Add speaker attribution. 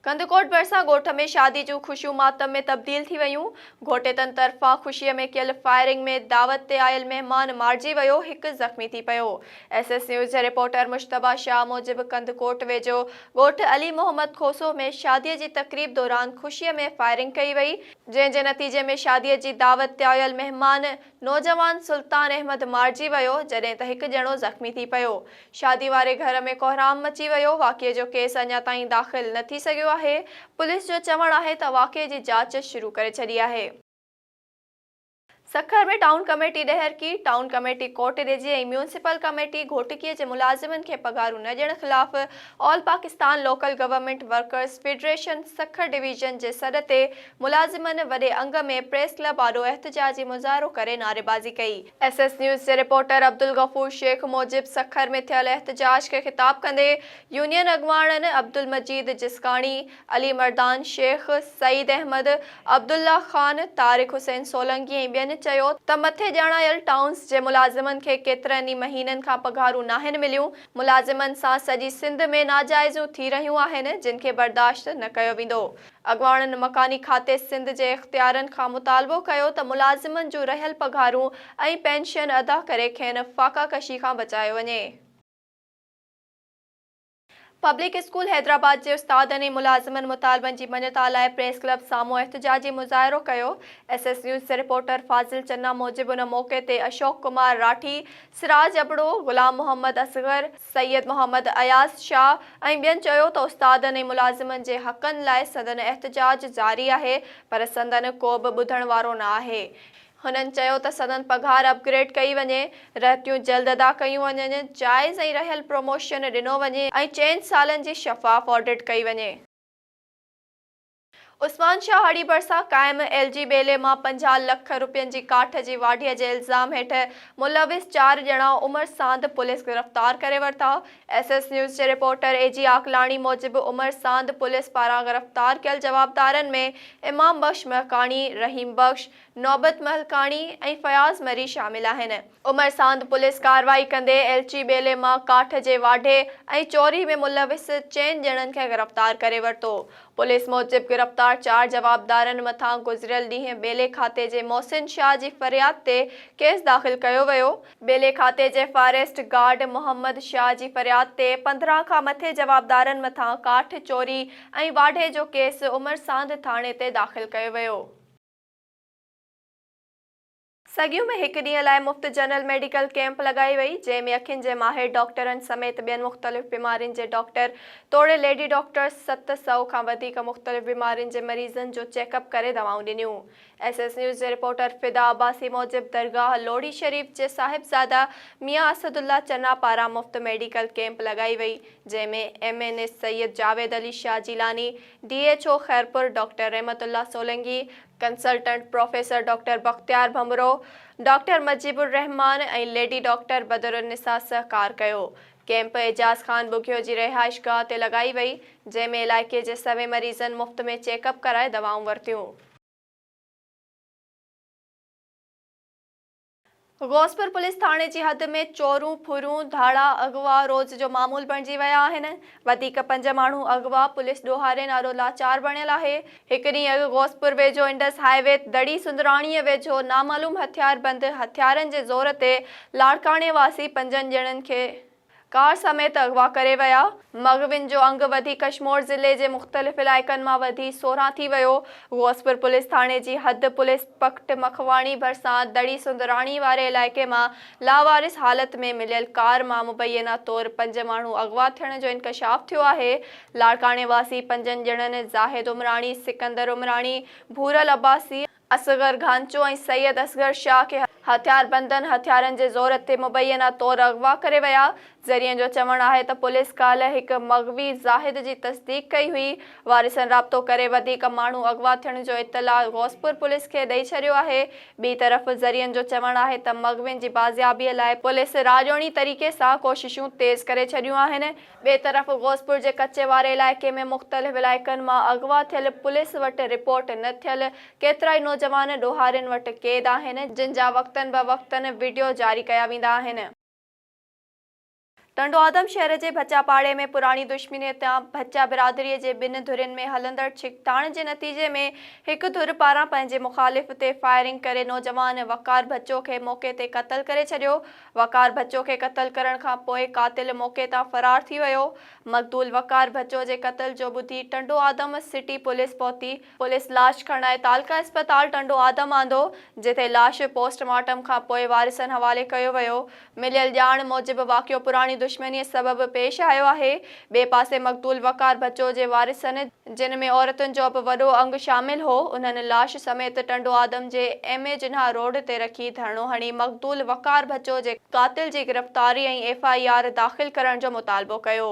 Speaker 1: ڪنڌڪوٽ ڀرسان ڳوٺ ۾ شادي جون خوشيون ماتم ۾ تبديل ٿي ويون، گهوٽيتن طرفان خوشي ۾ ڪيل فائرنگ ۾ دعوت تي آيل مهمان مارجي ويو، هڪ زخمي ٿي پيو. ايس ايس نيوز جي رپورٽر مجتبيٰ شاهه موجب ڪنڌڪوٽ ويجهو ڳوٺ علي محمد کوسو ۾ شادي جي تقريب دوران خوشي ۾ فائرنگ ڪئي وئي، جنهن جي نتيجي ۾ شاديء جي دعوت تي آيل مهمان نوجوان سلطان احمد مارجي ويو، جڏهن ته هڪ ڄڻو زخمي ٿي پيو. شادي واري گهر ۾ ڪوهرام مچي ويو. واقعي جو ڪيس اڃا تائين داخل نه ٿي سگهيو آهي. پوليس جو چوڻ آهي ته واقعي جي جاچ شروع ڪري ڇڏي آهي. Sukkur ۾ town committee Daharki, town committee Kotdiji ۽ municipal committee گهوٽڪيء جي ملازمن کي پگهارون نه ڏيڻ خلاف all Pakistan local government workers federation Sukkur division جي سڏ تي ملازمن وڏي انگ ۾ پريس ڪلب آڏو احتجاجي مظاهرو ڪري نعريبازي ڪئي. ايس ايس نيوز جي رپورٽر عبدالغفور شيخ موجب سکر ۾ ٿيل احتجاج کي خطاب ڪندي يونين اڳواڻن عبدالمجيد جسڪاڻي، علي مردان شيخ، سعيد احمد، عبدالله خان، طارق حسين سولنگي ۽ ٻين چيو ته مٿي ڄاڻايل ٽائونز جي ملازمن کي ڪيترن ئي مهينن کان پگهارون ناهن مليون، ملازمن سان سڄي سنڌ ۾ ناجائزيون ٿي رهيون آهن جن کي برداشت نه ڪيو ويندو، اڳواڻن مڪاني کاتي سنڌ جي اختيارين کان مطالبو ڪيو ته ملازمن جون رهيل پگهارون ۽ پينشن ادا ڪري کين فاقه ڪشي کان بچايو وڃي. پبلڪ اسڪول حيدرآباد جي استادن ۽ ملازمن مطالبن جي مڃتا لاء پريس ڪلب سامهون احتجاجي مظاهرو ڪيو، ايس ايس نيوز جي رپورٽر فاضل چنا موجب ان موقعي تي اشوڪ ڪمار راٺي، سراج ابڙو، غلام محمد اصغر، سيد محمد اياز شاهه ۽ ٻين چيو ته استادن ۽ ملازمن جي حقن لاء سندن احتجاج جاري آهي پر سندن ڪو به ٻڌڻ وارو نه آهي، هنن چيو ته سندن پگهار اپ گريڊ ڪئي وڃي، رهتيون جلد ادا ڪيون وڃن، جائز ۽ رهيل پروموشن ڏنو وڃي ۽ چئن سالن جي شفاف آڊٽ ڪئي وڃي. عثمان شاهه هاڙهي ڀرسان قائم ايل جي ٻيلي مان پنجاهه لک رپين جي ڪاٺ جي واڍيء جي الزام هيٺ ملوث چار ڄڻا عمر ساند پوليس گرفتار ڪري ورتا. ايس ايس نيوز جي رپورٽر اي جي عاقلاڻي موجب عمر ساند پوليس پاران گرفتار ڪيل جوابدارن ۾ امام بخش مهڪاڻي، رحيم بخش، نوبت مهلڪاڻي ۽ فياض مري شامل آهن. عمر ساند پوليس ڪارروائي ڪندي ايلچي ٻيلي مان ڪاٺ جي واڍي ۽ چوري ۾ ملوث چئن ڄڻن کي گرفتار ڪري ورتو. پوليس موجب گرفتار چار جوابدارن مٿان گذريل ڏينهن ٻيلي کاتي جي محسن شاهه جي فرياد تي ڪيس داخل ڪيو ويو. ٻيلي کاتي جي فاريسٽ گارڊ محمد شاهه جي فرياد تي پندرهن کان مٿي جوابدارن مٿان ڪاٺ چوري ۽ واڍي جو ڪيس عمر ساند ٿاڻي تي داخل ڪيو ويو. سگيون ۾ هڪ ڏينهن لاء مفت جنرل ميڊيڪل ڪيمپ لڳائي وئي، جنهن ۾ اکين جي ماهر ڊاڪٽرن سميت ٻين مختلف بيمارين جي ڊاڪٽر توڙي ليڊي ڊاڪٽرز ست سؤ کان وڌيڪ مختلف بيمارين جي مريضن جو چيڪ اپ ڪري دوائون ڏنيون. ايس ايس نيوز جي رپورٽر فدا عباسي موجب درگاهه لوڙهي شريف جي صاحبزاده ميان اسد الله چنا پاران مفت ميڊيڪل ڪيمپ لڳائي وئي، جنهن ۾ M N A Syed Javed Ali Shah Jilani, D H O Khairpur doctor Rahmat Ullah Solangi, consultant professor doctor Bakhtiar Bhanbhro, doctor Mujeeb ur Rahman ۽ lady doctor Badrunnisa سهڪار ڪيو. ڪيمپ اعجاز خان ٻگهيو جي رهائشگاهه تي لڳائي وئي، جنهن ۾ علائقي جي سوين مريضن مفت ۾ چيڪ اپ ڪرائي دوائون ورتيون. غوثپور پوليس ٿاڻي جي حد ۾ چورون، ڦرون، ڌاڙا، اغوا روز جو معمول بڻجي ويا آهن. وڌيڪ پنج ماڻهو اغوا، پوليس ڏوهاري نارو لاچار بڻيل آهي. هڪ ڏينهن اڳ غوثپور ويجهو انڊس هاء وي تي دڙي سندراڻيء ويجهو نامعلوم هٿياربند هٿيارن جي زور تي لاڙڪاڻي واسي پنجن ڄڻن کي ڪار سميت اغوا ڪري ويا، مغوين جو انگ وڌي ڪشمور ضلعي جي مختلف علائقن مان وڌي سورهن ٿي ويو، غوثپور پوليس ٿاڻي جي حد پوليس پڪٽ مکواڻي ڀرسان دڙي سندراڻي واري علائقي مان لاوارث حالت ۾ مليل ڪار مان مبينا طور پنج ماڻهو اغوا ٿيڻ جو انڪشاف ٿيو آهي، لاڙڪاڻي واسي پنجن ڄڻن زاهد عمراڻي، سڪندر عمراڻي، ڀورل عباسي ۽ اصغر گهانچو ۽ سيد اصغر شاهه کي هٿياربندن هٿيارن جي زور تي مبينا طور اغوا ڪري ويا. ذريعن جو چوڻ آهي ته پوليس ڪالهه هڪ مغوي زاهد جي تصديق ڪئي هئي. وارثن رابطو ڪري وڌيڪ ماڻهو اغوا ٿيڻ جو اطلاع غوثپور پوليس کي ڏئي ڇڏيو آهي. ٻي طرف ذريعن جو چوڻ آهي ته مغوين جي بازيابي لاء پوليس راڄوڻي طريقي سان ڪوششون تيز ڪري ڇڏيون آهن. ٻئي طرف غوثپور جي ڪچي واري علائقي ۾ مختلف علائقن مان اغوا ٿيل پوليس وٽ رپورٽ نه ٿيل ڪيترائي نوجوان ڏوهارين وٽ قيد آهن جن جا وقتن به وقتن وڊيو جاري ڪيا ويندا آهن. ٽنڊو آدم شهر جي ڀچا پاڙي ۾ پراڻي دشمني هتيان ڀچا برادري جي ٻن ڌرين ۾ هلندڙ ڇڪتاڻ جي نتيجي ۾ هڪ ڌر پاران پنهنجي مخالف تي فائرنگ ڪري نوجوان وقار ڀچو کي موقعي تي قتل ڪري ڇڏيو وقار بچو کي قتل ڪرڻ کان پوء قاتل موقعي تان فرار ٿي ويو، مقتول وقار بچو جي قتل جو ٻڌي ٽنڊوآدم سٽي پوليس پهتي، پوليس لاش کڻائي تعلقه اسپتال ٽنڊوآدم آندو، جتي لاش پوسٽ مارٽم کان پوء وارثن حوالي ڪيو ويو، مليل ڄاڻ موجب واقعو پراڻي دشمنيء سبب پيش آيو آهي، ٻئي پاسي مقتول وقار بچو جي وارثن، جن ۾ عورتن جو به وڏو انگ شامل هو، انهن لاش سميت ٽنڊو آدم جي ايم اي جناح روڊ تي رکي ڌرڻو هڻي مقتول وقار بچو جي قاتل جي گرفتاري ۽ ايف آء آر داخل ڪرڻ جو مطالبو ڪيو.